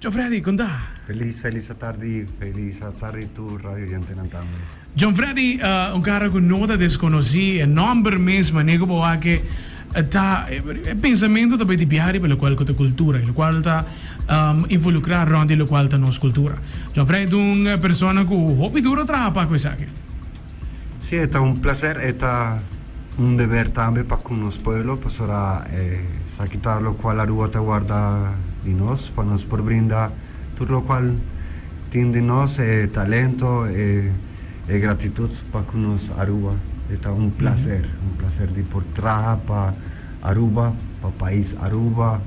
John Freddy, con ta? Feliz, feliz a tardi, feliz a tardi tur radioyentenan tambe. John Freddy, un cara cu no ta desconoci, e nomber mes, mane cu bo a ke ta, e pensamento ta bay di bia riba locual cu ta cultura, y locual ta involucra rond di locual ta nos cultura. John Freddy ta un persona cu hopi duro traha pa hacu esaki. Si e ta un placer e ta un deber tambe pa con nos pueblo pasobra e sa kita locual la rua ta warda di nos pa nos por brinda tur locual tin di nos e talento e e gratitud pa con nos Aruba e ta un placer un placer di por traha pa Aruba pa pais Aruba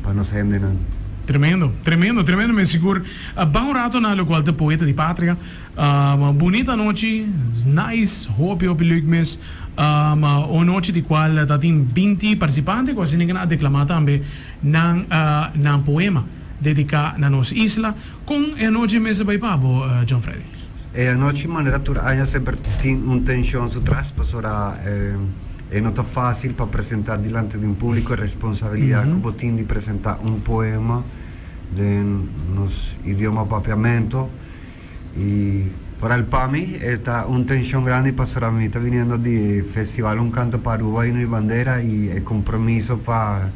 pa nos hendenan. Tremendo, tremendo, tremendo mi sigur. Baha un rato na locual ta Poeta di Patria. Ahh bunit anochi nice hopi hopi leuk mes ahh un nochi di cual ta tin binti participante cu asina kena a declama tambe nan ahh nan poema dedica na nos isla con e anochi mester bay pabo John Freddy? E anochi manera tur aña semper tin un tension su tras pasora e no ta facil pa presenta dilanti di un publico e responsabilidad cu bo tin di presenta un poema den nos idioma papiamento. y. Foral pa mi e ta un tenshon grandi pasobra mi ta biniendo di e festival Un canto pa Aruba y Nui Bandera y e compromiso pa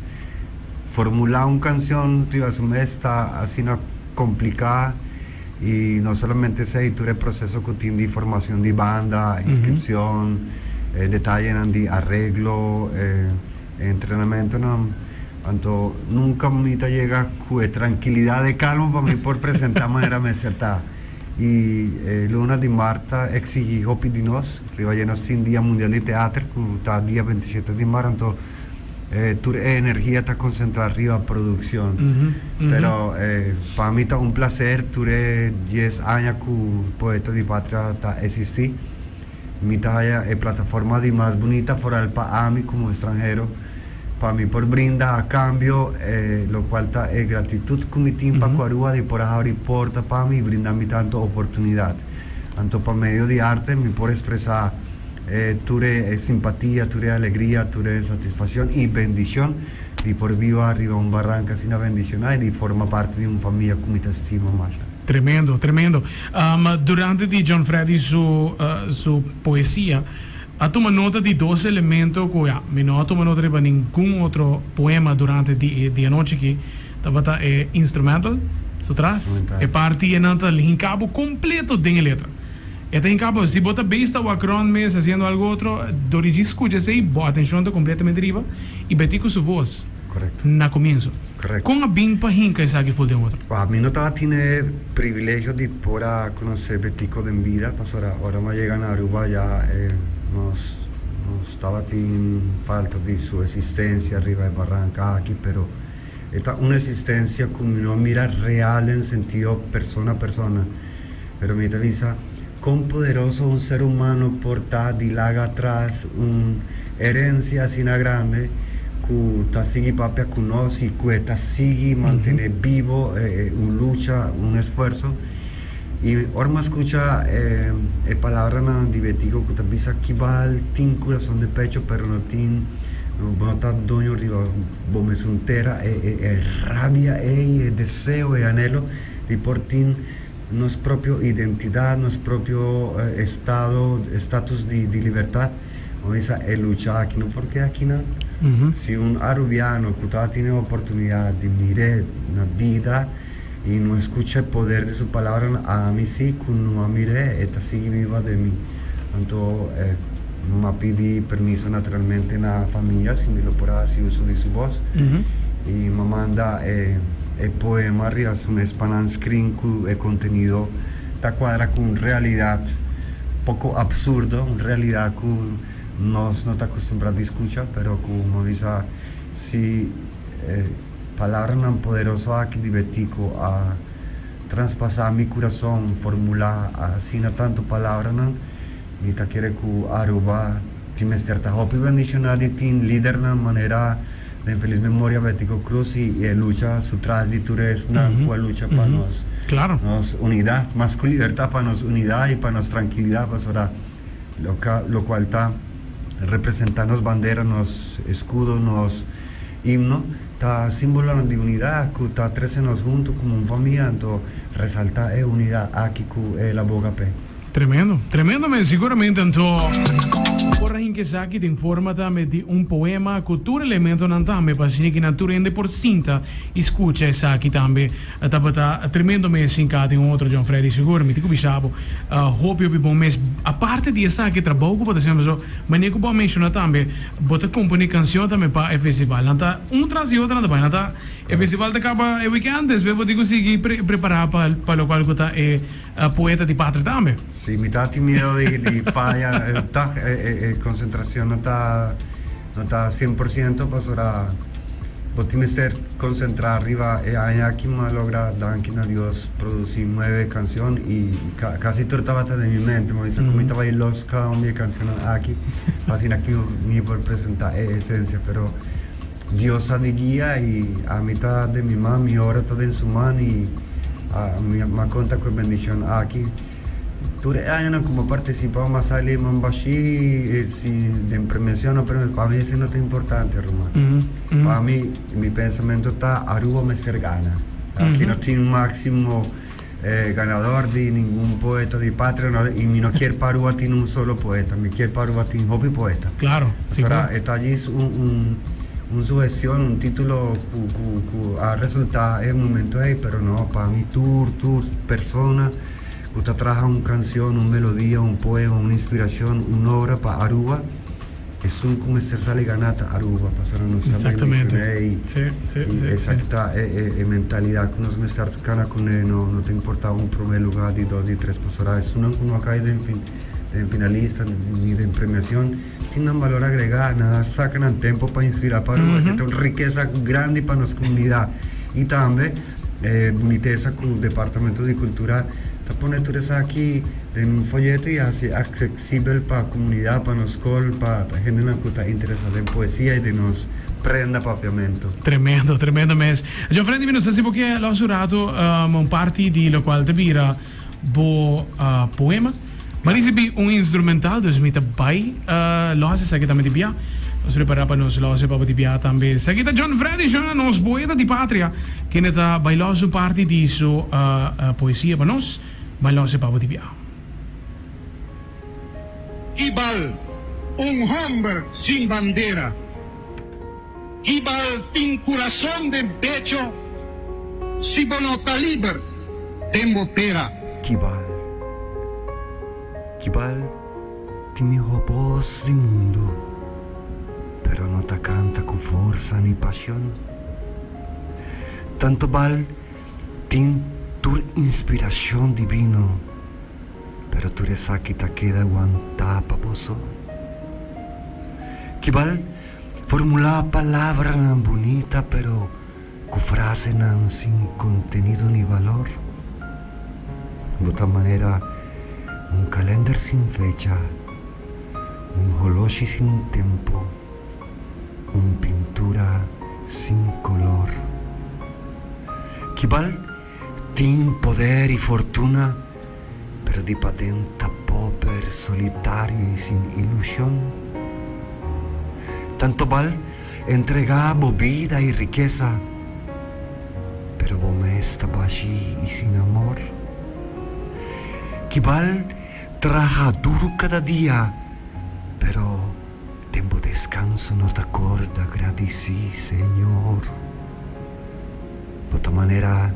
formula un cancion riba su mes ta asina complica y no solamente esey tur e proceso cu tin di formacion di banda, inscripcion, e detayenan di arreglo. E entrenamentonan, anto nunka mi ta yega ku e trankilidat e kalma pa mi por presentá manera mester ta. I e luna di mar ta eksigí hopi di nos riba dje nos tin Dia Mundial di Teater ku ta dia bentisiete di mar, anto tur e energia ta konsentrá riba produkshon. Pero pa mi ta un plaser tur e dies aña ku Poeta di Patria ta esistí. Mi ta haya e plataforma di mas bunita foral pa ami como estranhero pa mi por brinda a cambio e locual ta e gratitud cu mi tin pa Cuarua di por a habri porta pa mi y brinda mi tanto oportunidad. Anto pa medio di arte mi por expresa e tur e simpatia, tur e alegria, tur e satisfaccion y bendicion di por biba riba un barranca asina bendiciona y di forma parti di un famia cu mi ta estima masha. Tremendo, tremendo. Durante di John Freddy su su poesia a tuma nota di dos elemento ku ya mi no a tuma nota riba ningun otro poema durante di e dianochi aki tabata e instrumental su tras e parti e nan ta hinkabo kompleto den e letra e ta hinkabo si bo ta beish ta wak rònt mes hasiendo algu otro dor di djis skucha esei bo atenshon ta kompletamente riba i Betico su vos. Correcto. Na comienso. Correcto. Con a bin pa hinca esaki for den otro? Wao, mi no ta a tine privilegio di por a conoce Betico den bida, pasobra ora nos a yega na Aruba ya e nos nos tabatin falta di su existencia riba e barranca aki, pero e ta un existencia cu mi no a mira real den sentido persona persona. Pero mi ta bisa, Kon poderoso un ser humano por ta di laga atras un herencia asina grande ku ta sigui papia ku nos i ku e ta sigui mantene bibo e un lucha, un esfuerso? I ora mi a skucha e palabranan di Betico ku ta bisa kibal tin kurason de pecho pero no tin, bo no ta doño riba bo mesun tera, e rabia ei, e deseo, e anhelo. di por tin nos propio identidad, nos propio estado, estatus di libertad, bo mester sa e lucha aki. No por ke aki nan. Si un arubiano cu ta tine e oportunidad di mir'é na bida y no escucha e poder di su palabranan, ami si cu no a mir'é, e ta sigui biba den mi. Anto e no a pidi permiso naturalmente na famia si mi lo por a hasi uso di su bos. I mi a manda e e poema riba su mes pa nan screen ku e kontenido ta kuadra ku un realidat poko absurdo, un realidat ku nos no ta akustumbrá di skucha, pero ku mi a bisa si e palabranan poderoso aki di Betico a. traspasá mi kurason, formulá asina tantu palabranan, mi ta kere ku Aruba tin mester ta hopi bendishoná di tin lidernan manera den Feliz Memoria Betico Cruz i e lucha su tras di tur esnan ku a lucha pa nos unidat, mas ku libertá pa nos unidat i pa nos trankilidat, pasobra. Loka, lokual ta representá nos bandera, nos eskudo, nos himno, ta símbolonan di unidat ku ta trese nos huntu komo un famia, anto resaltá e unidat aki ku e laboga p'e. Tremendo, tremendo mes, siguramente anto por a hint esaki den forma tambe di un poema ku tur elementonan tambe pa asina ku nan tur hende por sinta i skucha esaki tambe. E tabata tremendo mes sin ka tin otro John Freddy sigur mi tin cu bisa bo hopi hopi bon mes aparte di esaki trabou cu bo ta hasi anto so mane cu bo a menciona tambe bo ta compone cancion tambe pa e festival nan ta un tras di otro nan ta bai nan ta e festival ta caba e weekend despues bo tin cu sigui prepara pa pa locual cu ta e poeta di patria tambe. Si mi ta tin mieu di faya e concentracion nan ta. No ta cien por ciento pasobra bo tin mester concentra riba e aña aki ma logra danki na Dios produci nueve cancion y casi tur tabata den mi mente ma bisa cu mi ta bay los cada un di e cancionnan aki asina cu mi por presenta e esencia pero Dios sa di guia y ami ta den mi man mi ora ta den su man y ami a conta cu e bendicion aki. Tur e añanan ku bo partisipá bo a sali mambashí si den premiashonnan pero pa mi esei no ta importante ruman. Pa mi mi pensamentu ta Aruba mester gana. Aki no tin máksimo ganador di ningun poeta di patria no i mi no kier pa Aruba tin un solo poeta mi kier pa Aruba tin hopi poeta pasobra e ta djis un sugestion un título ku a resultá e momentu ei pero no pa mi tur tur persona. ku ta traha un kansion, un melodia, un poema, un inspirashon, un obra pa Aruba, esun ku mester sali ganá ta Aruba, pasobra nos ta bai menshoná ei. I esaki ta e mentalidat ku nos mester kana kuné, no ta importá un promé lugá, di dos, di tres, pasobra esunnan ku no a kai den finalista ni den premiashon. Tin nan balor agregá, nan a saka nan tempu pa inspirá pa Aruba. Esei ta un rikesa grandi pa nos komunidat. I tambe e bunitesa ku Departamento di Kultura ta pone tur esaki den un foyeto i hasi aksesibel pa komunidat, pa nos skol, pa hendenan ku ta interesá den poesia i den nos prenda papiamentu. Tremendo, tremendo mes. John Freddy, mi no sa si bo ke lòs un ratu un parti di lokual ta bira. bo poema. Mi risibi un instrumental, dus mi ta bai lo hasi esaki tambe di bia. Nos prepara pa nos lo hasi pa bo di bia tambe. Esaki ta John Freddy Shona, nos boeta di patria, kende ta bai lo hasi un parti di su poesia pa nos. Bai lo hasi pa bo di bia. Ibal, un homber sin bandera. Di bal tin kurason den pecho si bo no ta liber den bo tera. Ki bal, ki bal tin miho bos di mundu pero no ta kanta ku forsa ni pashon. Tantu bal tin tur inspirashon divino pero tur esaki ta keda wantá pa boso. Ki bal. Formulá palabranan bunita pero ku frasenan sin kontenido ni valor. Bo ta manera un kalènder sin fecha, un holoshi sin tempu, un pintura sin kolor. Kibal? Tin poder y fortuna pero di paden ta pober, solitario y sin ilusion. Tantobal entrega bo bida y rikesa pero bo mes ta bashi y sin amor. Kibal traha duru kada dia pero den bo descanso no ta corda gradici Señor. pa ta manera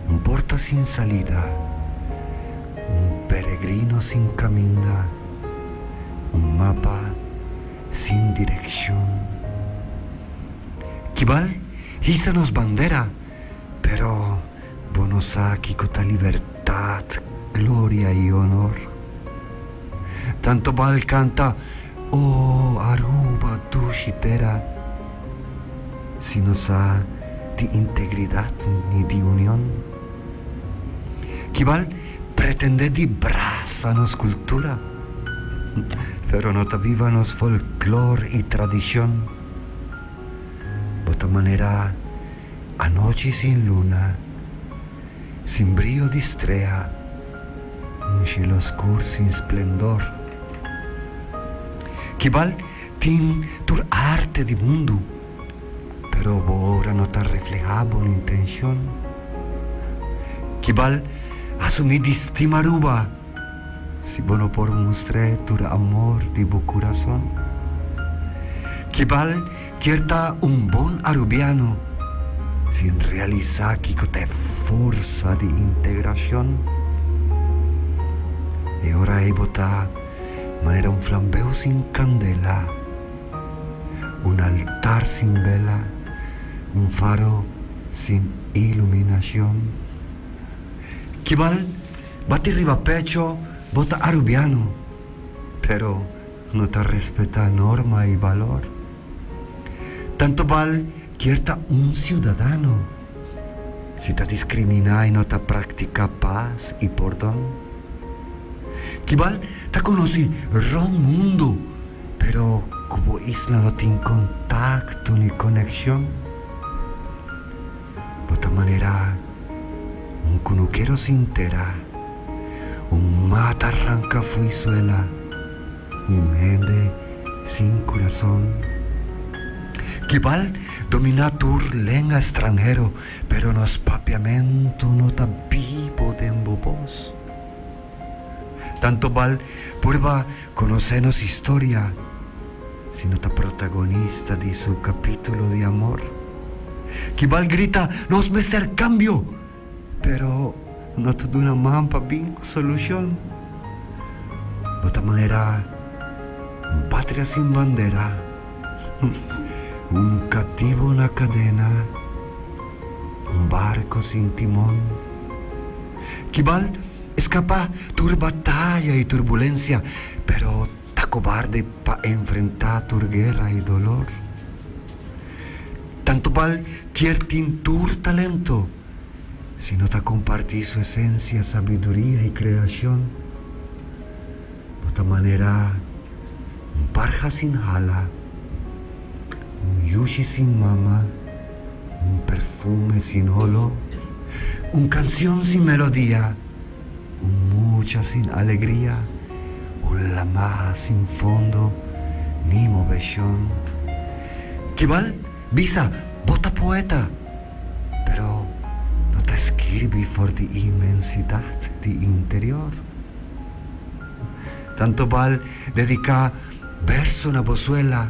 un porta sin salida, un peregrino sin caminda, un mapa sin direccion. Kibal hisa nos bandera, pero. Bo no sa kico ta libertad, gloria y honor? Tanto bal canta Oh Aruba dushi tera si no sa di integridad ni di union. Kibal pretende di brasa nos cultura pero no ta biba nos folklore y tradicion. Bo ta manera. Anochi sin luna, sin brio di strea, un shelo oscur sin splendor. Kibal tin tur arte di mundu, pero bo obra no ta refleha bo intencion. Kibal asumi di stima Aruba. Si bo no por mustr'é tur amor di bo kurason, kibal kier ta un bon arubiano sin realisá kiko ta e forsa di integrashon? E ora ei bo ta manera un flambeu sin kandela, un altar sin bela, un faro sin iluminashon. Kibal. Bati riba pecho, bo ta Arubiano, pero no ta respeta norma y balor. Tanto bal kier ta un ciudadano, si ta discrimina y no ta practica paz y pordon. Kibal ta conoci rond mundo, pero cu bo isla no tin contacto ni conexion. Bo ta manerá un kunukero sin tera, un mata ranka fui suela, un hende sin kurason. Kibal dominá tur lenga stranhero, pero nos papiamentu no ta bibo den bo bos. Tantu bal purba. Conoce nos historia si no ta protagonista di su capítulo di amor. Kibal grita nos mester cambio, pero no ta duna man pa bin cu solucion. No ta manera un patria sin bandera, un cativo na cadena, un barco sin timon. Kibal. Eskapá tur bataya i turbulensia, pero ta kobarde pa enfrentá tur guera i dolor. Tantu bal kier tin tur talento, si no ta kompartí su esensia, sabiduria i kreashon, no ta manerá un parha sin hala, un yushi sin mama. Un perfume sin oló. Un cancion sin melodia. Un mucha sin alegria. Un lamaha sin fondo, ni moveshon. Kibal bisa bo ta poeta, pero no ta skirbi for di inmensidat di interior. Tantobal dediká berso na bo suela.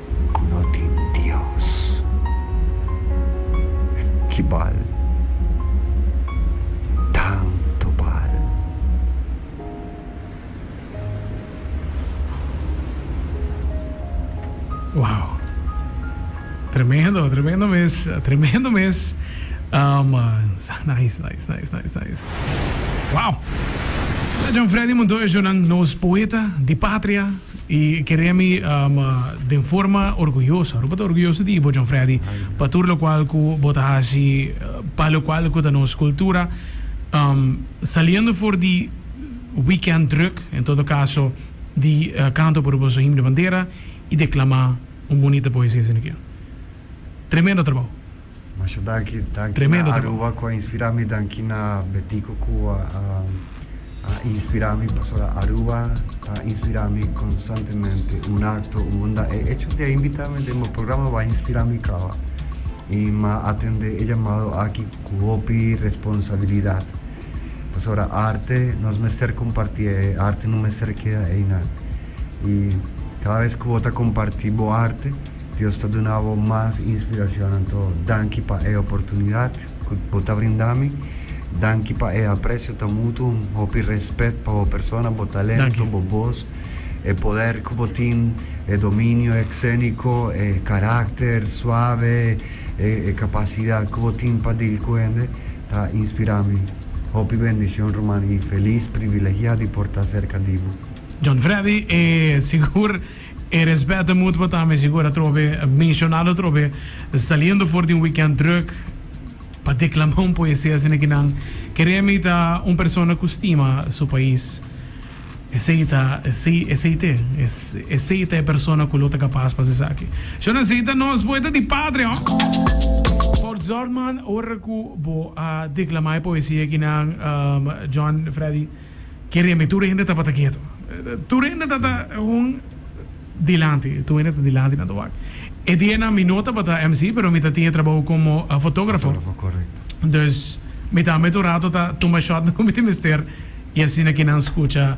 ku no tin Dios. Ki bal, tantu bal, Wow! Tremendo, tremendo mes, tremendo mes, nice, nice, nice, nice, nice. Wow! Jan Freddy Montoya Jonan, nos poeta di patria. I kere mi den forma orguyoso. Aruba ta orguyoso di bo John Freddy pa tur lokual ku bo ta hasi pa lokual ku ta nos kultura. Saliendo for di weekend druk, en todo kaso di kanto por boso himno bandera i deklamá un bunita poesia esaki. Tremendo trabou. Masha danki, danki na Aruba ku a inspira mi, danki na Betico ku a inspira mi pasobra Aruba ta inspira mi konstantemente. Un akto, un bondad. E echo di a invita mi den bo programa bo a inspira mi kawa. I m'a atende e llamado aki ku hopi responsabilidad pasobra arte nos mester kompartié, e arte no mester keda eina. I kada bes ku bo ta komparti bo arte. Dios ta duna bo mas inspiracion anto danki pa e oportunidad cu bo ta brinda mi, danki pa e aprecio ta mutu, un hopi respet pa bo persona, bo talento, bo voz, e poder cu bo tin, e dominio excenico, e caracter suave, e capacidad cu bo tin pa dil cu hende ta inspira mi, hopi bendicion ruman y feliz privilegia di por ta cerca di bo. John Freddy, e sigur. E respet ta mutuo tambe, si gura atrobe e mencionalo atrobe, saliendo for di un weekend druk pa declama un poesia asina ki nan Keremi ta un persona cu stima su pais. Esey ta, esey, esey t'e, es, esey ta e persona cu lo ta capas pa haci esaki. Shor nan esey ta nos poeta di patria, ho! Por zorg man ora cu bo a declama e poesia ki nan, John Freddy. Kere mi tur hende tabata ketu. Tur hende ta ta un dilanti, tur hende ta dilanti na tur wak. E dianan mi no tabata MC, pero mi ta tin e trabou komo fotografo. Fotografo, korekto. Dus mi ta met un rato ta tuma shotnan ku mi tin mester i asina ke nan skucha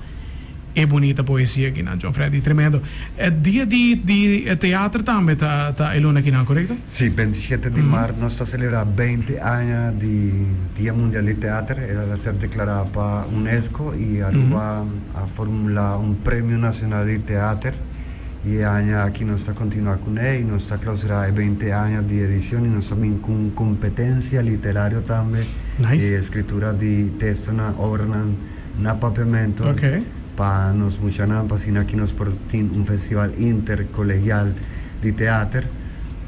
e bunita poesia kinan. John Freddy, tremendo. E dia di di teater tambe ta ta e luna kinan, korekto? Sí, beinti shete di maart nos ta selebrá beinti aña di Dia Mundial di Teater. El a ser deklará pa Unesco i Aruba a formulá un Premio Nacional di Teater. I e aña aki nos ta kontinuá kuné i nos ta klausurá e beinti aña di edicion i nos ta bini ku un kompetensia literario tambe di escritura di testonan, obranan na papiamento Pa nos muchanan, pa asina ki nos por tin un festival intercolegial di teater,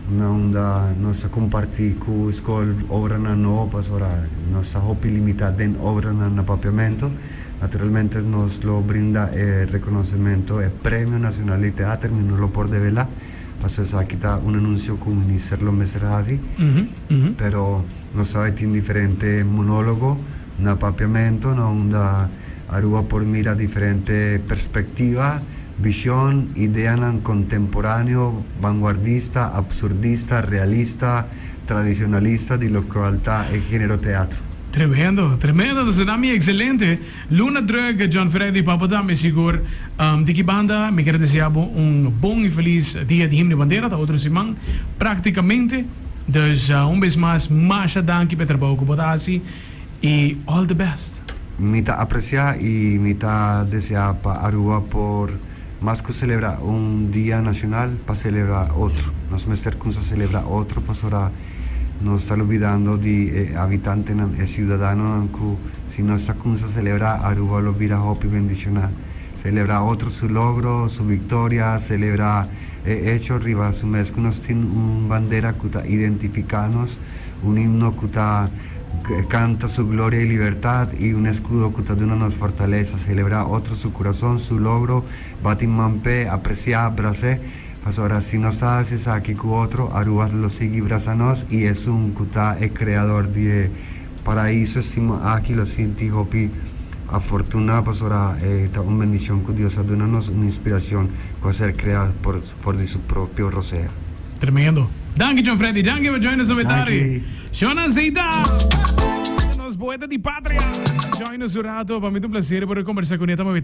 na unda nos ta comparti cu scol obranan no, pasobra nos ta hopi limita den obranan na papiamento. Naturalmente nos lo brinda e reconocemento, e Premio Nacional di Teater, mi no lo por devela, pasobra esaki ta un anuncio cu Minister lo mester haci, pero nos ta bay tin diferente monologo, Na papiamento na unda Aruba por mira diferente perspectiva, vision, ideanan contemporáneo, vanguardista, absurdista, realista, tradicionalista di locual ta e género teatro. Tremendo, tremendo ta Tsunami excelente. Luna druk John Freddy Papota mi sigur di ki banda mi quiere desea bo un bon y feliz dia di himno y bandera ta otro siman practicamente. Dus un bes mas masha danki p'e trabao cu bo ta haci. y all the best. Mi ta aprecia y mi ta desea pa Aruba por mas cu celebra un dia nacional pa celebra otro. Nos mester cumsa celebra otro pasobra nos ta lubidando di e habitantenan, e ciudadanonan cu si nos ta cumsa celebra Aruba lo bira hopi bendiciona. Celebra otro su logro, su victoria, celebra e hecho riba su mes cu nos tin un bandera cu ta identifica nos Un himno cu ta canta su gloria y libertad y un escudo cu ta duna nos fortaleza. Celebra otro su curazon, su logro, bati man p'e, aprecia, brac'e. Pasobra si nos ta haci esaki cu otro, Aruba lo sigui braza nos y Esun cu ta e creador di e Paraiso stima aki lo sinti hopi afortuna pasobra e ta un bendicion cu Dios a duna nos un inspiracion cu a ser crea por for di su propio rosea. Tremendo. Danki John Freddy. Danki pa join nos obetari. Shownan Zeita. Nos poeta di patria. Join nos un rato. Pa mi ta un placer por a combersa cu Neta Mabeta.